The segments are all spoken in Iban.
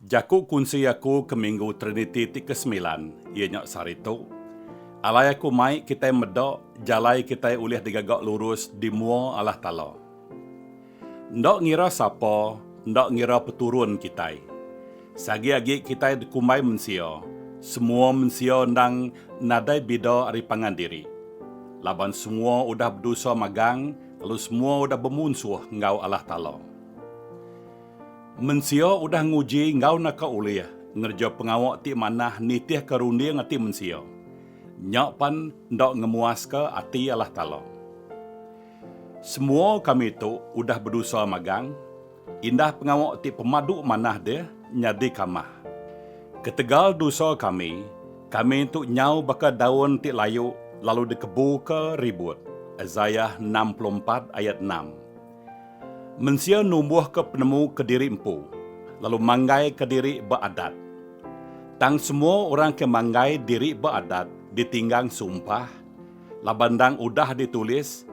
Jaku kunsi aku ke Minggu Triniti ti kesemilan iya nya sehari tu, Alai aku mai kitai meda jalai kitai ulih digaga lurus di mua Allah Taala. Enda ngira sapa, enda ngira peturun kitai. Seagi agi kitai dikumbai mensia, semua mensia endang nadai bida ari pangan diri. Laban semua udah bedosa magang lalu semua udah bemunsuh enggau Allah Taala. Mensia udah nguji enggau naka ulih ngereja pengawa ti manah nitihka runding ati mensia. Nya pan enda ngemuaska ati Allah Taala. Semua kami tu udah bedosa magang, indah pengawa ti pemadu manah deh nyadi kamah. Ketegal dosa kami, kami tu nyau baka daun ti layu lalu dikebuka ribut, Isaiah enam puluh empat ayat enam. Mensia numbuhka penemu kediri empu lalu manggaika diri ba adat. Tang semua orang ke manggai diri ba adat ditinggang sumpah laban endang udah ditulis,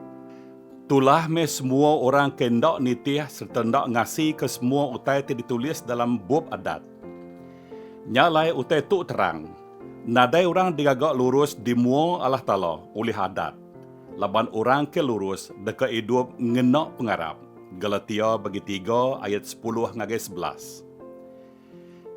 Tulah meh semua orang ke enda nitih sereta enda ngasika semua utai ti ditulis dalam bup adat. Nya alai utai tu terang, nadai orang digaga lurus di mua Allah Taala ulih adat. Laban orang ke lurus deka idup ngena pengarap, Galatia bagi tiga ayat sepuluh ngagai sebelas.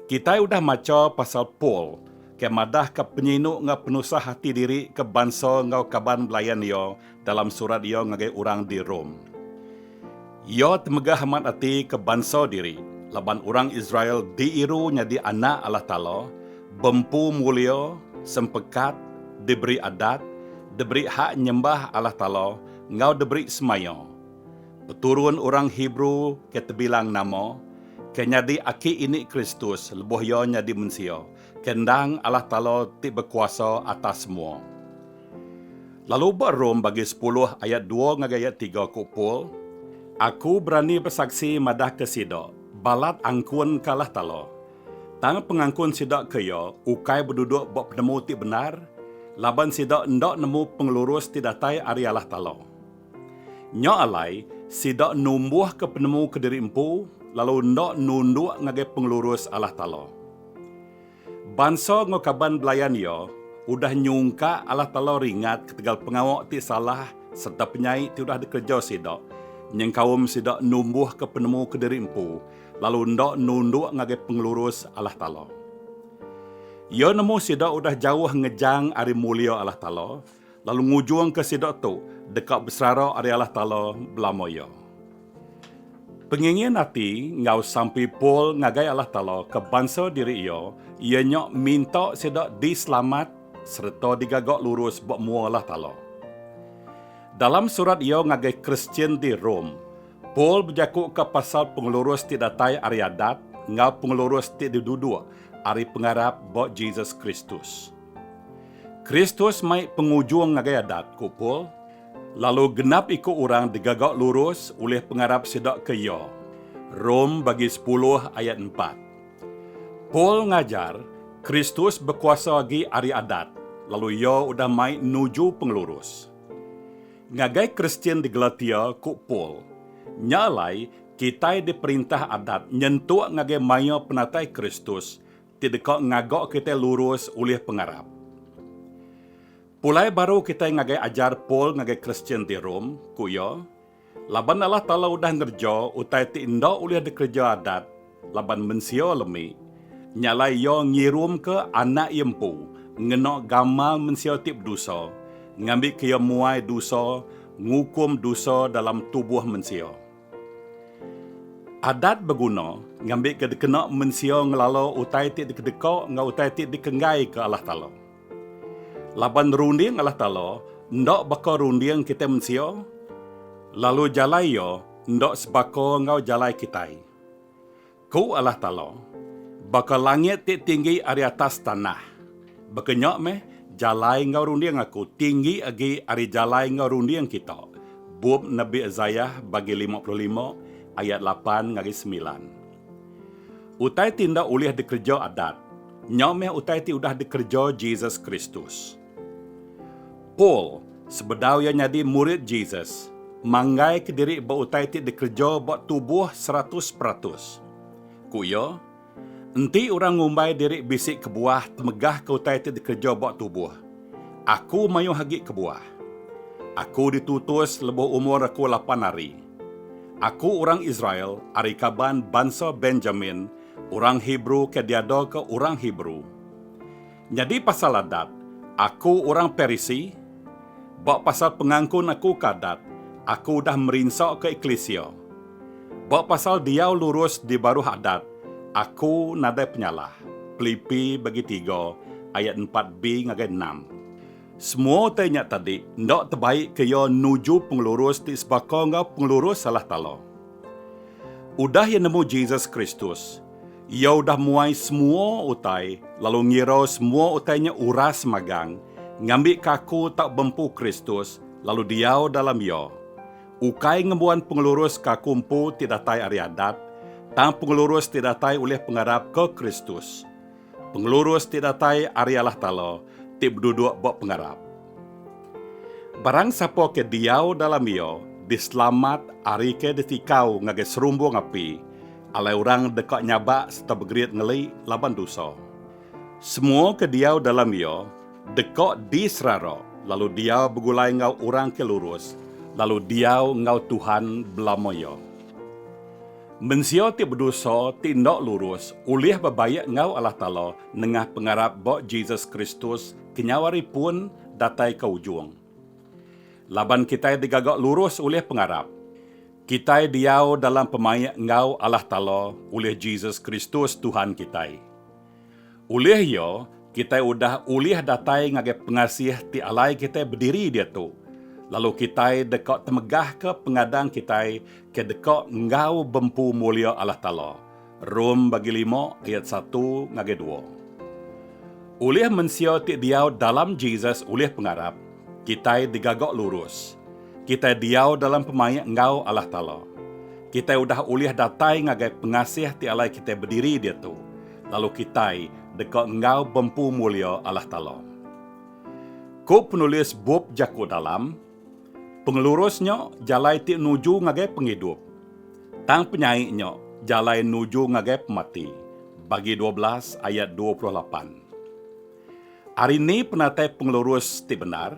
Kitai udah macha pasal Paul ke madahka penyinu enggau penusah ati diri ke bansa enggau kaban belayan iya dalam surat iya ngagai orang di Rome. Iya temegah amat ati ke bansa diri, laban orang Israel diiru nyadi anak Allah Taala, beempu mulia, sempekat, diberi adat, diberi hak nyembah Allah Taala, enggau diberi semaya. Peturun orang Hebrew ke tebilang nama, ke nyadi aki ini Kristus lebuh iya nyadi mensia, ke endang Allah Taala ti bekuasa atas semua. Lalu ba Rom bagi sepuluh ayat dua ngagai ayat tiga ku Paul, Aku berani besaksi madahka sida, balat angkun ke Allah Taala, tang pengangkun sida ke iya ukai beduduk ba penemu ti bendar, laban sida enda nemu pengelurus ti datai ari Allah Taala. Nya alai, sida numbuhka penemu kediri empu, lalu enda nunduk ngagai pengelurus Allah Taala. Bansa enggau kaban belayan iya udah nyungka alah telaw ringat ketegal pengawa ti salah sereta penyai ti udah dikereja sida nyengkaum sida numbuhka penemu kediri empu lalu enda nunduk ngagai pengelurus alah telaw. Iya nemu sida udah jauh ngejang ari mulia alah telaw lalu ngujungka sida tu deka beserara ari Allah Taala belama iya. Pengingin ati enggau sampi Paul ngagai Allah Taala ke bansa diri iya iya nya minta sida diselamat sereta digaga lurus ba mua Allah Taala. Dalam surat iya ngagai Kristian di Rome, Paul bejakuka pasal pengelurus ti datai ari adat enggau pengelurus ti diduduk ari pengarap ba Jesus Kristus. Kristus mai pengujung ngagai Adat, ku Paul, lalu genap iku orang digaga lurus ulih pengarap sida ke iya. Rom bagi sepuluh ayat empat. Paul ngajar, Kristus bekuasa agi ari Adat, lalu iya udah mai nuju pengelurus. Ngagai Kristian di Galatia, ku Paul, Nya alai, kitai diperintah Adat nyentuk ngagai maya penatai Kristus, ti deka ngaga kitai lurus ulih pengarap. Pulai baru kitai ngagai ajar Paul ngagai Kristian di Rome, ku iya, Laban Allah Taala udah ngereja utai ti enda ulih dikereja adat laban mensia lemi, nya alai Iya ngirumka Anak Iya empu ngena gamal mensia ti bedusa, ngambika Iya muai dusa ngukum dusa dalam tubuh mensia. Adat beguna ngambika dikena mensia ngelala utai ti dikedeka enggau utai ti dikenggaika Allah Taala. Laban runding Allah Taala enda baka runding kitai mensia, lalu jalai Iya enda sebaka enggau jalai kitai. Ku Allah Taala, Baka langit ti tinggi ari atas tanah, baka nya meh jalai enggau runding Aku tinggi agi ari jalai enggau runding kita. Bup Nabi Isaiah bagi lima puluh lima ayat lapan ngagai semilan. Utai ti enda ulih dikereja Adat, nya meh utai ti udah dikereja Jesus Kristus. Paul, sebedau iya nyadi murid Jesus, manggaika diri ba utai ti dikereja ba tubuh seratus peratus. Ku iya, Enti orang ngumbai diri bisi kebuah temegahka utai ti dikereja ba tubuh, aku mayuh agi kebuah. Aku ditutus lebuh umur aku lapan hari. Aku orang Israel ari kaban bansa Benjamin, orang Hebrew ke diadaka orang Hebrew. Nyadi pasal adat, aku orang Parisi? Ba pasal pengangkun aku ke adat, aku udah merinsa ke eklisia? Ba pasal diau lurus di baruh adat, aku nadai penyalah. Pelipi bagi tiga ayat empat bi ngagai enam. Semua utai nya tadi enda tebaik ke iya nuju pengelurus ti sebaka enggau pengelurus Allah Taala. Udah iya nemu Jesus Kristus, Iya udah muai semua utai lalu ngira semua utai nya uras magang ngambika aku tau bempu Kristus lalu diau dalam Iya. Ukai ngembuan pengelurus ke aku empu ti datai ari adat, tang pengelurus ti datai ulih pengarap ke Kristus. Pengelurus ti datai ari Allah Taala ti beduduk ba pengarap. Barang sapa ke diau dalam Iya diselamat ari ke ditikau ngagai serumbung api, alai orang deka nyabak sereta begerit ngeli laban dosa. Semua ke diau dalam Iya deka diserara lalu diau begulai enggau orang ke lurus lalu diau enggau Tuhan belama iya. Mensia ti bedosa ti enda lurus ulih bebaik enggau Allah Taala nengah pengarap ba Jesus Kristus kenyau hari pun datai ke ujung. Laban kitai digaga lurus ulih pengarap, kitai diau dalam pemaik enggau Allah Taala ulih Jesus Kristus Tuhan kitai. Ulih iya, kitai udah ulih datai ngagai pengasih ti alai kitai bediri diatu, lalu kitai deka temegahka pengadang kitai ke deka enggau bempu mulia Allah Taala, Rom bagi lima ayat satu ngagai dua. Ulih mensia ti diau dalam Jesus ulih pengarap, Kitai digaga lurus. Kitai diau dalam pemaik enggau Allah Taala. Kitai udah ulih datai ngagai pengasih ti alai kitai bediri diatu, lalu kitai deka enggau bempu mulia Allah Taala. Ku penulis bup Jaku Dalam, Pengelurus nya jalai ti nuju ngagai pengidup, tang penyai nya jalai nuju ngagai pemati, Bagi dua belas ayat dua puluh lapan. Ari ni penatai pengelurus ti bendar?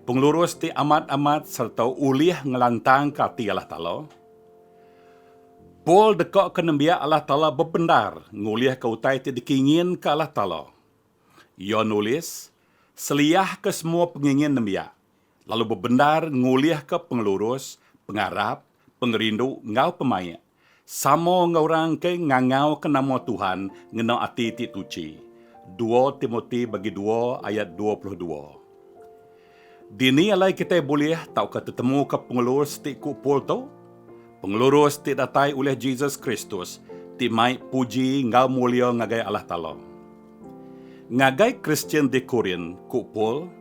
Pengelurus ti amat-amat sereta ulih ngelantangka ati Allah Taala. Paul dekoka nembiak Allah Taala bebendar ngulihka utai ti dikinginka Allah Taala. Iya nulis, Seliahka semua pengingin nembiak. lalu bebendar ngulihka pengelurus, pengarap, pengerindu enggau pemaik sama enggau orang ke ngangauka nama Tuhan ngena ati ti tuchi, dua Timoti bagi dua ayat dua puluh dua. Dini alai kitai bulih tauka tetemuka pengelurus ti ku Paul tu? Pengelurus ti datai ulih Jesus Kristus ti mai puji enggau mulia ngagai Allah Taala. Ngagai Kristian di Korint, ku Paul,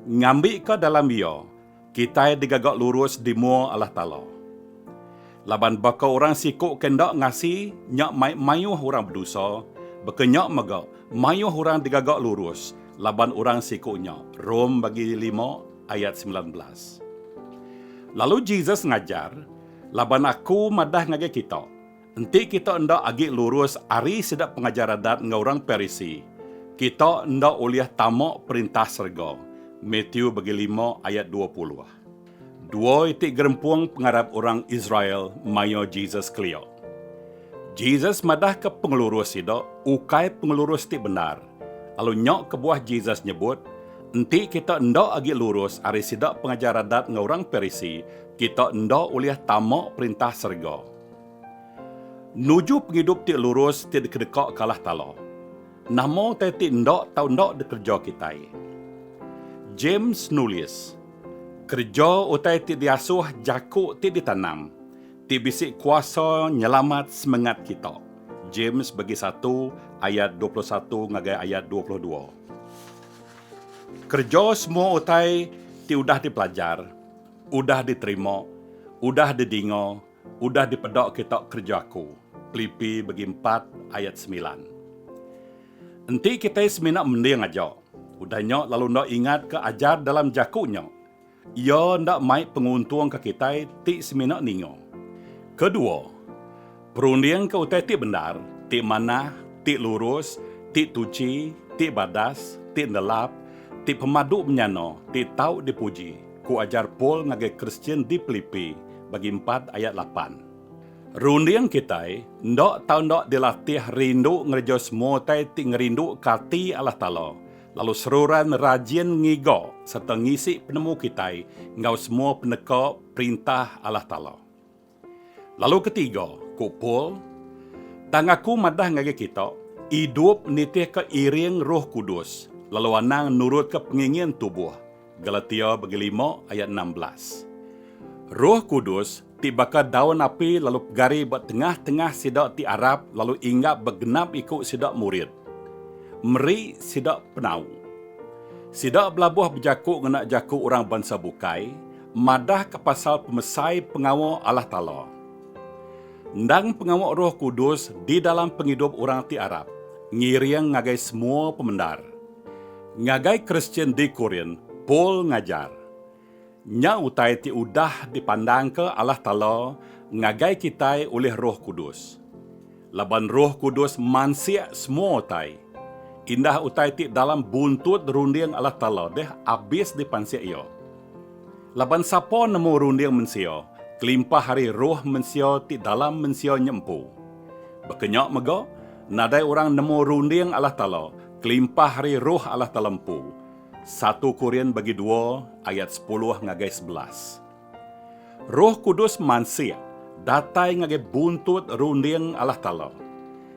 Ngambika dalam iya, kitai digaga lurus di mua Allah Taala. Laban baka orang siku ke enda ngasi nya mai mayuh orang bedosa, baka nya mega mayuh orang digaga lurus laban orang siku nya, Rom bagi lima ayat semilan belas. Lalu Jesus ngajar, Laban aku madah ngagai kita, Enti kita enda agi lurus ari sida pengajar Adat enggau orang Parisi, kita enda ulih tama Perintah serega. Matthew bagi lima ayat dua puluh. Dua iti gerempung pengarap orang Israel maya Jesus kelia. Jesus madahka pengelurus sida ukai pengelurus ti bendar, lalu nya kebuah Jesus nyebut, Enti kita enda agi lurus ari sida pengajar Adat enggau orang Parisi, kita enda ulih tama Perintah serega. Nuju pengidup ti lurus ti dikedeka kalah tala. Nama utai ti enda tau enda dikereja kitai? James nulis, Kereja utai ti diasuh jaku ti ditanam ti bisi kuasa nyelamat semengat kita, James bagi satu ayat dua puluh satu ngagai ayat dua puluh dua. Kereja semua utai ti udah dipelajar, udah diterima, udah didinga, Udah dipeda kita kereja aku. Pilipi begi empat ayat semilan. Enti kitai semina mending aja, udah nya lalu enda ingatka ajar dalam jaku nya, iya enda mai penguntung ke kitai ti semina ninga. Kedua, perundingka utai ti bendar, ti manah, ti lurus, ti tuchi, ti badas, ti ndelap, ti pemadu menyana, ti tau dipuji. Ku ajar Paul ngagai Kristian di Pilipi, bagi empat ayat lapan. Runding kitai enda tau enda dilatih rindu ngereja semua utai ti ngerinduka ati Allah Taala, lalu seruran rajin ngiga sereta ngisi penemu kitai enggau semua peneka perintah Allah Taala. Lalu ketiga, ku Paul, tang aku madah ngagai kita, idup nitihka iring Roh Kudus, lalu anang nurutka pengingin tubuh, Galatia bagi lima ayat enam belas. Roh Kudus ti baka daun api lalu pegari ba tengah-tengah sida ti arap lalu inggap ba genap iku sida murid, meri sida penau. Sida belabuh bejaku ngena jaku orang bansa bukai, madahka pasal pemesai pengawa Allah Taala. Endang pengawa Roh Kudus di dalam pengidup orang ti arap, ngiring ngagai semua pemendar. Ngagai Kristian di Korint, Paul ngajar, Nya utai ti udah dipandangka Allah Taala ngagai kitai ulih Roh Kudus. Laban Roh Kudus mansik semua utai. Indah utai ti dalam buntut runding Allah Taala deh abis dipansik Iya. Laban sapa nemu runding mensia, kelimpah ari roh mensia ti dalam mensia nya empu. Baka nya mega, nadai orang nemu runding Allah Taala, kelimpah ari Roh Allah Taala empu. Satu Korin bagi dua ayat sepuluh ngagai sebelas. Roh Kudus mansik datai ngagai buntut runding Allah Taala.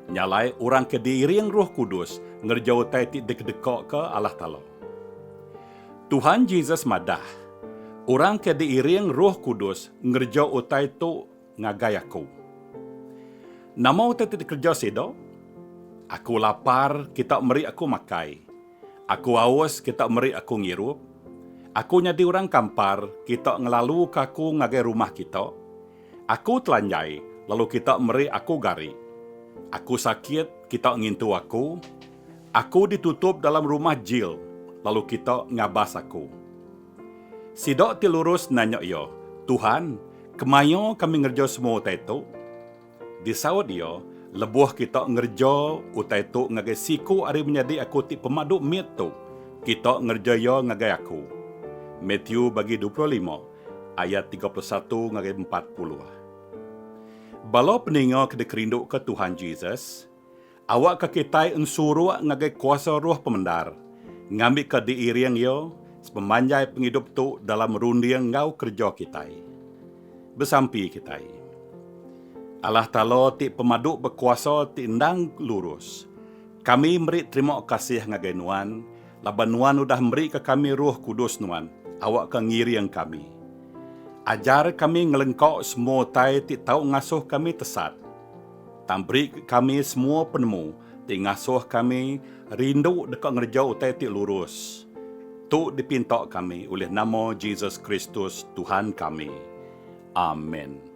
Nya alai orang ke diiring Roh Kudus ngereja utai ti dikedekaka Allah Taala. Tuhan Jesus madah, Orang ke diiring Roh Kudus ngereja utai tu ngagai aku. Nama utai ti dikereja sida? Aku lapar, kita meri aku makai. Aku aus kita meri aku ngirup. Aku nyadi orang kampar kita ngelaluka aku ngagai rumah kita. Aku telanjai lalu kita meri aku gari. Aku sakit kita ngintu aku. Aku ditutup dalam rumah jil lalu kita ngabas aku. Sida ti lurus nanya iya, Tuhan, kemaya kami ngereja semua utai tu? Disaut iya, Lebuh kita ngereja utai tu ngagai siku ari menyadi aku ti pemadu mit tu, kita ngereja iya ngagai aku. Matthew bagi dua puluh lima ayat tiga puluh satu ngagai empat puluh. Bala peninga ke dikerinduka Tuhan Jesus, Awakka kitai ensuruk ngagai kuasa roh pemendar, ngambika diiring Iya sepemanjai pengidup tu dalam runding enggau kereja kitai. Besampi kitai. Allah Taala ti Pemadu Bekuasa ti endang lurus, kami meri terima kasih ngagai Nuan laban Nuan udah merika kami Roh Kudus Nuan awakka ngiring kami. Ajar kami ngelengka semua utai ti tau ngasuh kami tesat. Tang beri ke kami semua penemu ti ngasuh kami rindu deka ngereja utai ti lurus. Tu dipinta kami ulih nama Jesus Kristus, Tuhan kami. Amen.